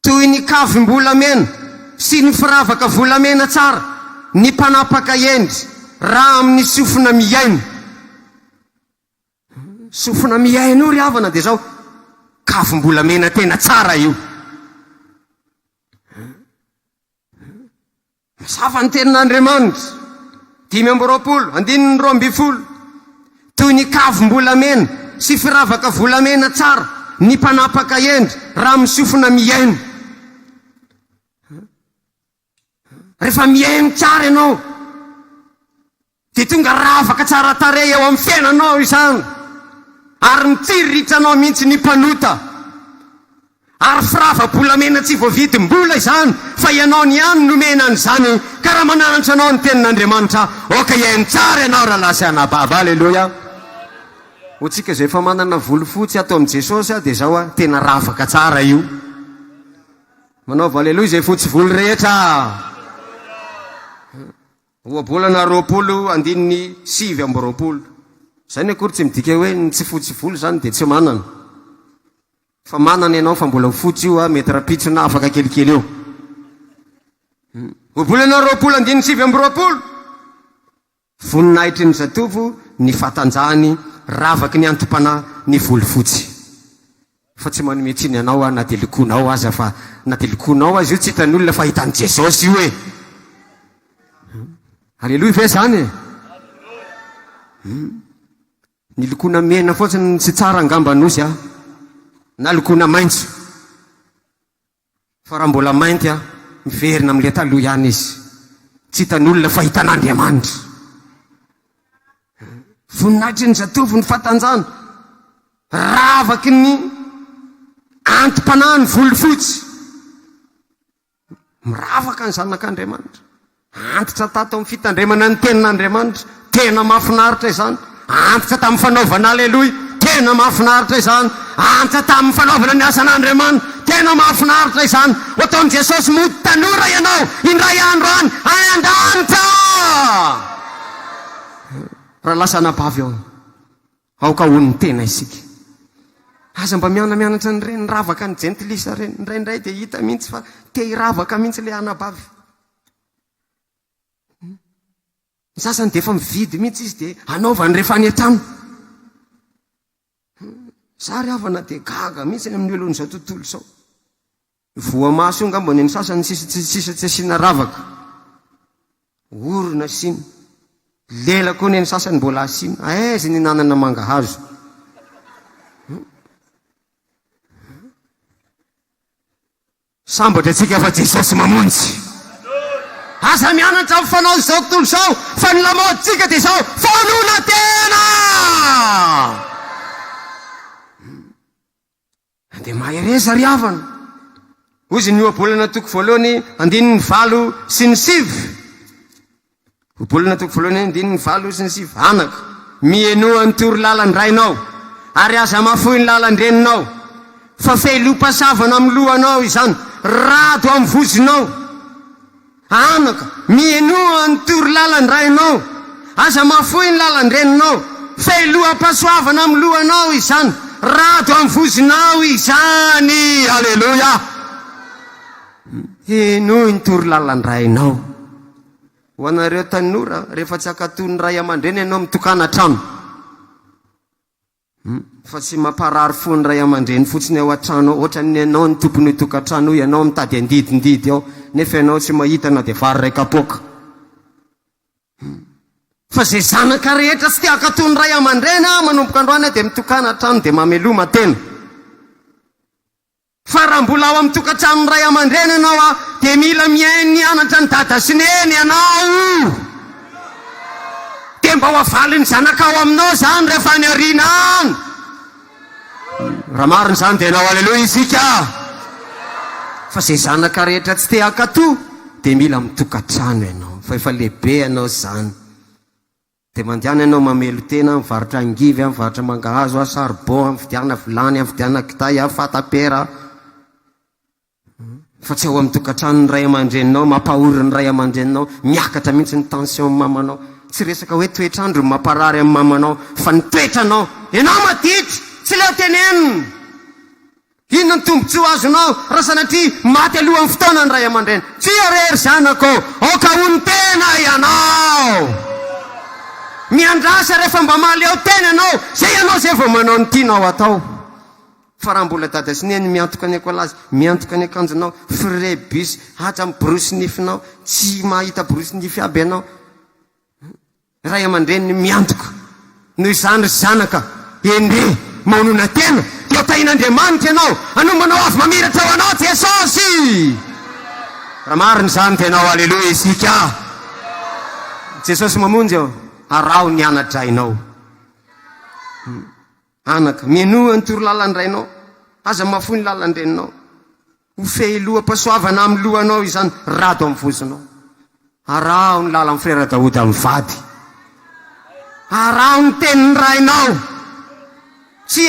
Toy ny kavim-bolamena sy ny firavaka volamena tsara ny mpanapaka hendry raha amin'ny sofina mihaino. Sofina mihaino io ry havana dia zao, kavim-bolamena tena tsara io. Mazava ny tenin'Andriamanitra, dimy amby roapolo, andininy roa ambin'ny folo, toy ny kavim-bolamena sy firavaka volamena tsara ny mpanapaka hendry raha misofina mihaino. Rehefa mihaino tsara ianao dia tonga ravaka tsara tarehy eo amin'ny fiainanao izany ary mitsiriritra-nao mihitsy ny mpanota. Ary firava-bolamena tsy voavidim-bola izany fa ianao niany nomena an'izany karamana antso anao ny tenin'Andriamanitra aoka hihaino tsara ianao rahalahy sy anabavy. Aleloia. Ho tsika izay efa manana volofotsy ato amin'i Jesosy dia izao a, tena ravaka tsara io. Manaova aleloia izay fotsy volo rehetra ah! Ohabolana roapolo andininy sivy amby roapolo. Izany akory tsy midika hoe ny tsy fotsy volo izany dia tsy manana. Fa manana ianao fa mbola ho fotsy io ah, mety rapitsona afaka kelikely eo. Ohabolana roapolo andininy sivy amby roapolo. Voninahitry ny zatovo ny fatanjahany, ravaky ny anti-panahy ny volo fotsy. Fa tsy manome tsiny anao aho na dia lokoinao aza fa na dia lokoinao aza io tsy hitan'olona fa hitan'i Jesosy io e! Aleloia ve izany e? Hum. Ny lokoina mena fotsiny no tsy tsara angamba Nosy a! Na lokoina maitso. Fa raha mbola mainty aho, miverina amin'ilay taloha ihany izy. Tsy hitan'olona fa hitan'Andriamanitra. Voninahitry ny zatovo ny fatanjana, ravaky ny anti-panahy ny volofotsy. Miravaka ny zanak'Andriamanitra. Antitra tato amin'ny fitandremana ny tenin'Andriamanitra, tena mahafinaritra izany. Antitra tamin'ny fanaovana Aleloia, tena mahafinaritra izany. Antitra tamin'ny fanaovana ny asan'Andriamanitra, tena mahafinaritra izany. Ho ataon'i Jesosy mody tanora ianao indray andro any an-danitra! Raha lasa anabavy aho. Aoka ho ny tena isika. Aza mba mihanamianatra an'ireny ravaka an'ny jentilisa ireny. Indraindray dia hita mihitsy fa te hiravaka mihitsy ilay anabavy. Hmm. Ny sasany dia efa mividy mihitsy izy dia anaovany rehefa any an-trano. Hmm. Za ry havana dia gaga mihitsy amin'ny olon'izao tontolo izao. Voamaso eo angamba ny an'ny sasany ny sisa tsy sisa tsy asiana ravaka. Orona asiana. Lela koa ny an'ny sasany mbola asiana. Aiza ny nanana mangahazo? Sambatra antsika fa Jesosy mamonjy. Aza mianatra amin'ny fanao izao tontolo izao fa ny lamaodintsika dia izao fahanoloana tena. Dia mahereza ry havana! Hoy izy ny ohabolana toko voalohany andininy valo sy ny sivy. Ohabolana toko voalohany andininy valo sy ny sivy. Anako, mihenoa ny toro lalan-drainao, ary aza mafoy ny lalan-dreninao, fa fehiloam-pasavana amin'ny lohanao izany, rado amin'ny vozonao. Anaka, mihenoa ny toro lalan-drainao, aza mahafoy ny lalan-dreninao, fehiloham-pahasoavana amin'ny lohanao izany, rado amin'ny vozonao izany. Aleloia! Henoy ny toro lalan-drainao. Ho anareo tanora, rehefa tsy hankatò ny ray aman-dreny ianao, mitokana hatrany. Hum. Fa tsy mamparary fo ny ray amandreny fotsiny ao an-trano ao, ohatran'ny ianao no tompon'io tokantrano io, ianao mitady andidindidy ao, nefa ianao tsy mahita na dia vary iray kapoaka. Hum. Fa izay zanaka rehetra tsy te hankato ny ray amandreny an, manomboka androany dia mitokana an-trano dia mameloma tena. Fa raha mbola ao amin'ny tokantranon'ny ray aman-dreny ianao dia mila mihaino ny anatra an'i dada sy neny ianao. Dia mba ho avalin'ny zanakao aminao izany rehefa any aoriana any. Raha marina izany dia enao aleloia isika. Fa izay zanaka rehetra tsy te hankatò dia mila mitokantrano ianao fa efa lehibe ianao izany. Dia mandehana ianao mamelon-tena, mivarotra angivy, mivarotra mangahazo, charbon, mividiana vilany, mividiana kitay, fatapera, fa tsy ao amin'ny tokantranon'ny ray aman-dreninao, mampahory ny ray aman-dreninao, miakatra mihitsy ny tension mamanao. Tsy resaka hoe toetr'andro no mamparary an'i mamanao, fa ny toetranao. Ianao maditra, tsy leo tenenina! Inona ny tombontsoa azonao raha sanatria maty alohan'ny fotoana ny ray aman-dreny? Tsia re, ry zanako ô! Aoka ho ny tena ianao! Miandrasa rehefa mba mahaleo tena ianao, izay ianao izay vao manao ny tianao atao. Fa raha mbola dada sy neny miantoka ny ekolazy, miantoka ny akanjonao, frais bus, aza miborosy nifinao, tsy mahita borosy nify aby ianao, Ray aman-dreniny miantoka. Noho izany, ry zanaka, ende, maonona tena, dia tahin'Andriamanitra ianao, anombanao avo mamiratra ho anao Jesosy! Raha marina izany dia anao Aleloia isika! Jesosy Mamonjy ô, araho ny ana-drainao. Anaka, menoa ny torolalan-drainao, aza mahafoy ny lalan-dreninao. Ho fehiloham-pahasoavana amin'ny lohanao izany rado amin'ny vozonao. Araho ny lalan'i Frera Daoda mivady. Araho ny tenin'ny rainao. Tsy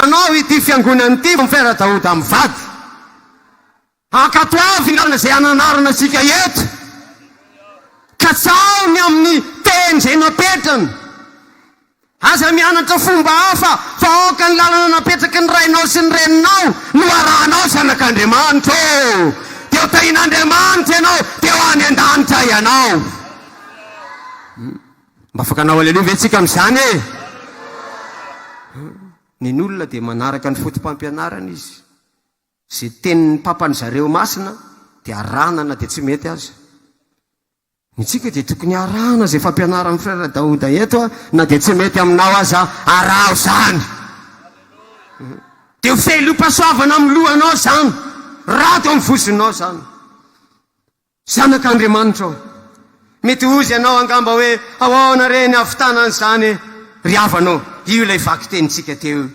hanao ity fiangonana ity vao ny Frera Daoda mivady. Ankatoavina izay ananarana antsika eto. Katsaho ny amin'ny teny izay napetrany. Aza mianatra fomba hafa fa aoka ny lalana napetraky ny rainao sy ny reninao no arahanao zanak'Andriamanitra ô! Dia ho tahin'Andriamanitra ianao dia ho any an-danitra ianao. Mba afaka hanao aleloia ve tsika amin'izany e? Nen'olona dia manaraka ny foto-pampianarana izy. Ze tenin'ny papan'ny zareo masina de arahana na de tsy mety aza. Ny antsika de tokony arahana ze fampianaran'ny frere Daouda eto a, na de tsy mety aminao aza araho zany. De ho fehilompasoavana amin'ny lohanao zany, rato amin'ny vozonao zany. Zanak'Andriamanitra ô. Mety hozy ianao angamba hoe ahoana re ny havitana an'izany e? Ry havana ô, io ilay vakitenintsika teo io.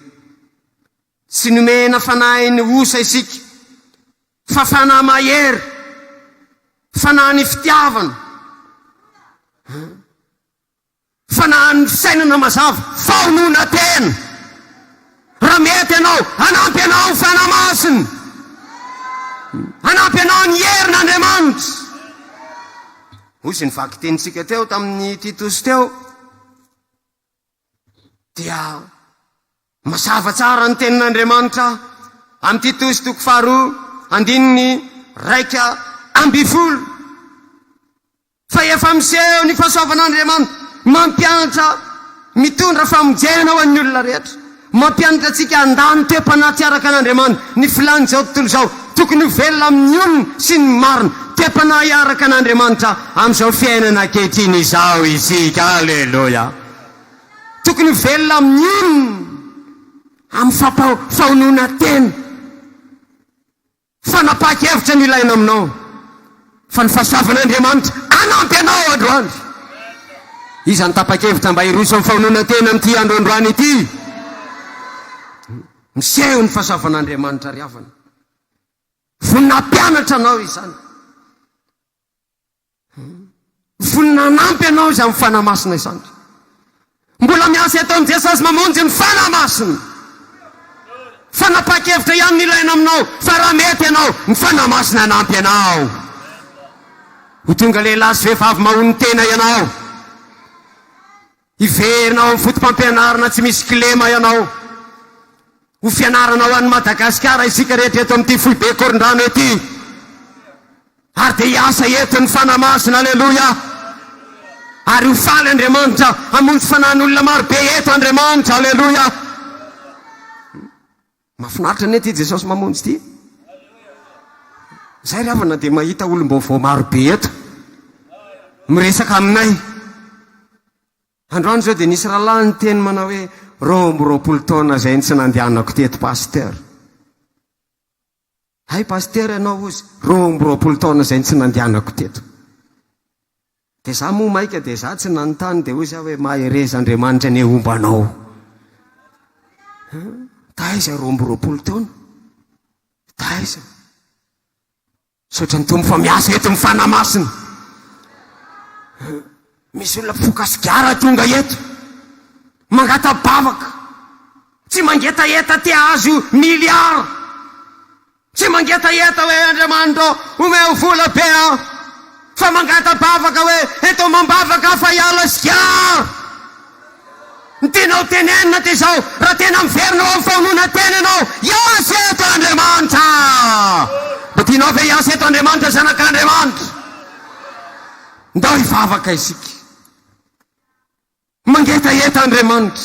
Tsy nomena fanahin'ny osa isika, fa fanahy mahery, fanahin'ny fitiavana, fanahin'ny fisainana mazava, fahononantena. Raha mety ianao, hanampy anao ny Fanahy Masina, hanampy anao ny herin'Andriamanitra. Hoy izy ny vakitenintsika teo tamin'ny Titosy teo. Dia mazava tsara ny tenin'Andriamanitra amin'i Titosy toko faharoa andininy iraika ambin'ny folo fa efa miseho ny fahasoavan'Andriamanitra mampiantra mitondra famonjena ho an'ny olona rehetra. Mampianatra antsika handà ny toe-panaty araka an'Andriamani ny filàn'izao tontolo izao. Tokony ho velona amin'ny olona sy ny marina, te-panahy araka an'Andriamanitra amin'izao fiainana ankehitriny izao isika. Aleloia! Tokony ho velona amin'ny olona, amin'ny fahononantena. Fanapahan-kevitra no ilaina aminao fa ny fahasoavan'Andriamanitra hanampy anao androany. Iza no tapa-kevitra mba hiroso amin'ny famonoan-tena amin'ity andro androany ity? Miseho ny fahasoavan'Andriamanitra ry havana. Vonona hampianatra anao izany. Ny fony nanampy anao Izy amin'ny Fanahy Masina izany. Mbola miasa eto amin'i Jesosy mamonjy ny Fanahy Masina. Fanapahan-kevitra ihany no ilaina aminao, fa raha mety ianao, ny Fanahy Masina hanampy anao. Ho tonga lehilahy sy vehivavy mahonon-tena ianao. Hiverina ao amin'ny fotopampianarana tsy misy kilema ianao. Ho fianarana ho an'i Madagasikara isika rehetra eto amin'ity foibe Korondrano ety. Ary dia hiasa eto ny Fanahy Masina. Aleloia. Ary ho faly Andriamanitra. Hamonjy fanahin'olona maro be eto Andriamanitra. Aleloia. Mafinaritra anie ity Jesosy mamonjy ity. Zay ry havana dia mahita olom-baovao maro be eto. Miresaka aminay. Androany zao dia nisy rahalahy niteny manao hoe roa amby roapolo taona zay ny tsy nandehanako teto Pasteur. Hay Pasitera ianao ozy roa amby roapolo taona izay no tsy nandianako teto. Dia za moa maika dia za tsy nanontany dia hoy za hoe mahereza Andriamanitra anie homba anao. Taiza roa amby roapolo taona? Taiza? Misaotra ny Tompo fa miasa eto ny Fanahy Masina. Misy olona mpifoka sigara tonga eto mangata-bavaka, tsy mangetaheta te hahazo milliards, tsy mangetaheta hoe Andriamanitra ô omeo vola be aho, fa mangata-bavaka hoe eto amam-bavaka aho fa hiala sigara. Ny tianao tenenina dia izao, raha tena miverina ao amin'ny famonoan-tena ianao, hiasa eto Andriamanitra! Mba tianao ve hiasa eto Andriamanitra, zanak'Andriamanitra? Ndao hivavaka isika. Mangetaheta Andriamanitra.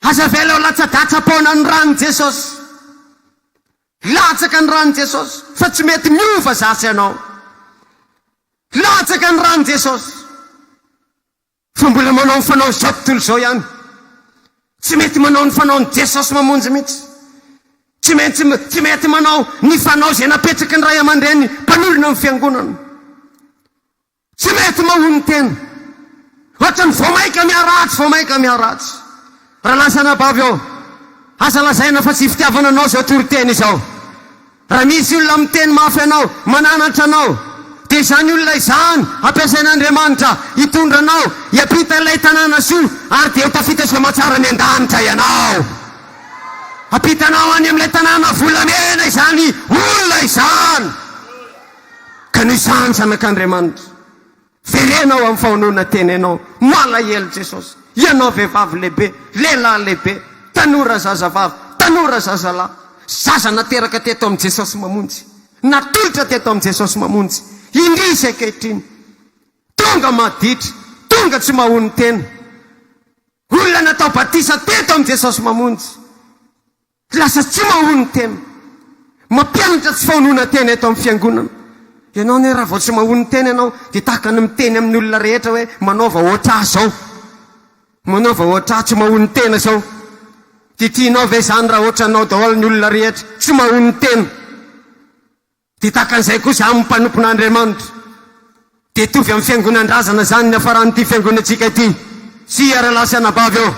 Aza avela ho latsa-datsa-paona ny ran'i Jesosy. Latsaka ny ran'i Jesosy fa tsy mety miova za sy ianao. Latsaka ny ran'i Jesosy. Fa mbola manao ny fanaon' izao tontolo izao ihany. Tsy mety manao ny fanaon' i Jesosy Mamonjy mihitsy. Tsy maintsy tsy mety manao ny fanao izay napetraky ny ray aman-dreny mpanorina ny Fiangonana. Tsy mety mahonon-tena. Ohatran'ny vao mainka miharatsy, vao mainka miharatsy. Raha lasa anabavy aho, aza lazaina fa tsy fitiavana anao izao toriteny izao. Raha misy olona miteny mafy anao, mananatra anao, dia izany olona izany ampiasain'Andriamanitra hitondra anao hiampita ilay tanàna soa, ary dia ho tafita sy hamatsara any an-danitra ianao. Hampitanao any amin'ilay tanàna volamena izany olona izany. Ka noho izany, zanak'Andriamanitra, Jerena ao amin'ny fahononana tena ianao. Malahelo Jesosy. Ianao vehivavy lehibe, lehilahy lehibe, tanora zazavavy, tanora zazalahy, zaza nateraka teto amin'i Jesosy Mamonjy, natolotra teto amin'i Jesosy Mamonjy, indrisy ankehitriny. Tonga maditra, tonga tsy mahonon-tena. Olona natao batisa teto amin'i Jesosy Mamonjy. Tsy lasa tsy mahoa ny tena. Mampianatra tsy fahononan-tena eto amin'ny Fiangonana. Ianao anie raha vao tsy mahoa ny tena ianao dia tahaka ny miteny amin'ny olona rehetra hoe manaova hoatr'ahy izao. Manaova hoatr'ahy tsy mahoa ny tena izao. Dia tianao ve izany raha hoatranao daholo ny olona rehetra tsy mahoa ny tena? Dia tahaka an'izay koa izany ny mpanompon'Andriamanitra. Dia hitovy amin'ny fiangonan-drazana izany ny hafaran'ity fiangonantsika ity. Tsia, rahalahy sy anabavy ô,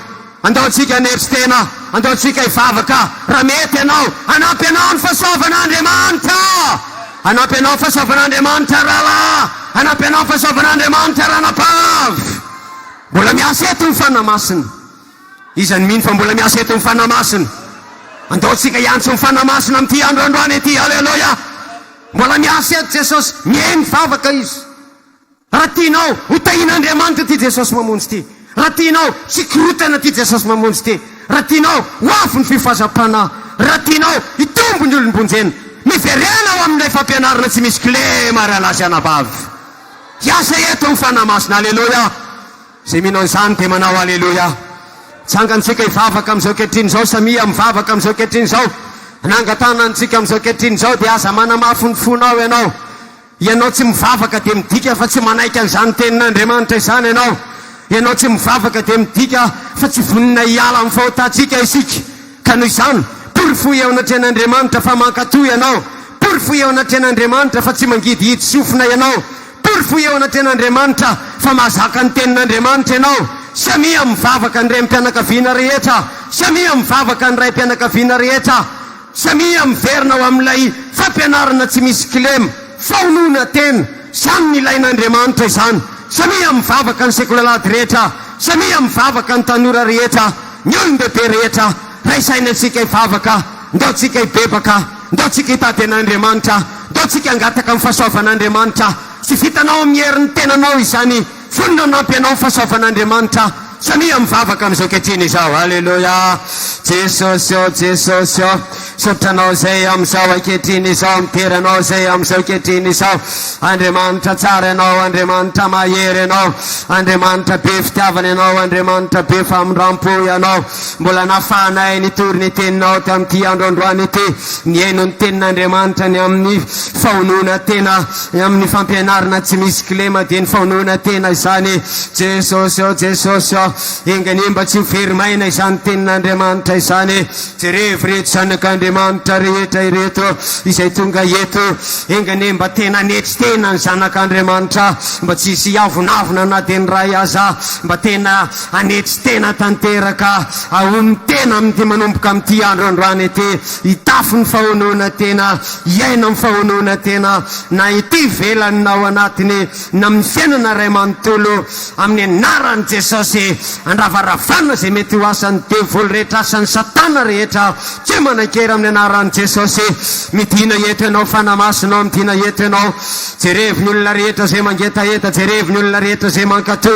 andao tsika hanetry tena, andao tsika hivavaka, raha mety ianao. Hanampy anao ny fahasoavan'Andriamanitra! Hanampy anao ny fahasoavan'Andriamanitra, rahalahy! Hanampy anao ny fahasoavan'Andriamanitra, ranabavy! Mbola miasa eto ny Fanahy Masina. Iza no mino fa mbola miasa eto ny Fanahy Masina? Andao tsika hiantso ny Fanahy Masina amin'ity andro androany ity. Aleloia! Mbola miasa eto Jesosy, miheno vavaka Izy. Raha tianao, ho tahian'Andriamanitra ity Jesosy mamonjy ity. Raha tianao, tsy korontana ity Jesosy mamonjy ity. Raha tianao, ho avy ny fifazam-panahy. Raha tianao, hitombo ny olom-bonjena. Miverena ho amin'ilay fampianarana tsy misy kilema ry alahy sy anabavy. Hiasa eto ny Fanahy Masina. Aleloia! Izay mino an'izany dia manao Aleloia. Tsangany tsika hivavaka amin'izao ankehitriny izao, samia mivavaka amin'izao ankehitriny izao. Nangatahana antsika amin'izao ankehitriny izao dia aza manamafy ny fonao ianao. Ianao tsy mivavaka dia midika fa tsy manaiky an'izany tenin'Andriamanitra izany ianao. Ianao tsy mivavaka dia midika fa tsy vonona hiala amin'ny fahotantsika isika. Ka noho izany, porofoy eo anatrehan'Andriamanitra fa mankatò ianao. Porofoy eo anatrehan'Andriamanitra fa tsy mangidihidy sofina ianao. Porofoy eo anatrehan'Andriamanitra fa mahazaka ny Tenin'Andriamanitra ianao. Samia mivavaka ny renim-pianakaviana rehetra. Samia mivavaka ny raim-pianakaviana rehetra. Samia miverina ho amin'ilay fampianarana tsy misy kilema, fahonoana tena. Samy nilain'Andriamanitra izany. Samia mivavaka ny sekolalady rehetra. Samia mivavaka ny tanora rehetra, ny olon-dehibe rehetra. Ray saina antsika hivavaka. Ndao tsika hibebaka. Ndao tsika hitady an'Andriamanitra, ndao tsika hangataka amin'ny fahasoavan'Andriamanitra. Tsy vitanao amin'ny herin'ny tenanao izany, fony nanampy anao ny fahasoavan'Andriamanitra. Samia mivavaka amin'izao ankehitriny izao. Aleloia! Jesosy ô, Jesosy ô, misaotra Anao izay amin'izao ankehitriny izao, midera Anao izay amin'izao ankehitriny izao. Andriamanitra tsara Ianao, Andriamanitra mahery Ianao, Andriamanitra be fitiavana Ianao, Andriamanitra be famindrampo Ianao. Mbola nahafahanay nitory ny Teninao tamin'ity andro androany ity, nihaino ny Tenin'Andriamanitra ny amin'ny fahonoana tena, ny amin'ny fampianarana tsy misy kilema dia ny fahonoana tena izany. Jesosy ô, Jesosy ô, enganiehy mba tsy ho very maina izany Tenin'Andriamanitra izany. Jerevo ireto zanak'Andriamanitra rehetra ireto izay tonga eto, enganiehy mba tena hanetry tena ny zanak'Andriamanitra, mba tsy hisy hiavonavona na dia ny iray aza, mba tena. Hanetry tena tanteraka aho ny tena amin'ity manomboka amin'ity andro androany ity, hitafy ny fahonoana tena, hiaina amin'ny fahonoana tena, na ety ivelany na ao anatiny, na amin'ny fiainana iray manontolo, amin'ny anaran'i Jesosy, andravaravana izay mety ho asan'ny devoly rehetra, asan'i Satana rehetra, tsy manan-kery amin'ny anaran'i Jesosy, midina eto ianao, Fanahy Masinao midina eto ianao, jerevo ny olona rehetra izay mangetaheta, jerevo ny olona rehetra izay mankatò,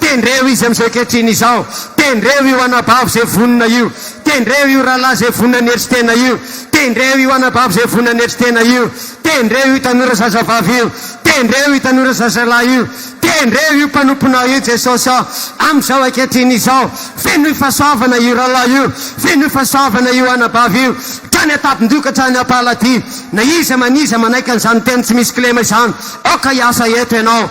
Tendreo izy amin'izao ankehitriny izao. Tendreo io anabavy izay vonona io. Tendreo io rahalahy izay vonona hanetry tena io. Tendreo io anabavy izay vonona hanetry tena io. Tendreo io tanora zazavavy io. Tendreo io tanora zazalahy io. Tendreo io mpanomponao io, Jesosy ô, amin'izao ankehitriny izao. Fenoy fahasoavana io rahalahy io. Fenoy fahasoavana io anabavy io. Hatrany an-tabin-doha ka hatrany am-pahaladia. Na iza man iza manaiky an'izany teny tsy misy kilema izany, aoka hiasa eto Ianao.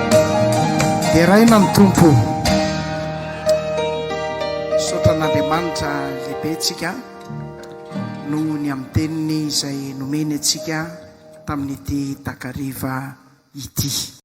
Deraina ny Tompo. Misaotra an'Andriamanitra lehibe tsika noho ny amin'ny teniny izay nomeny antsika tamin'ity takariva ity.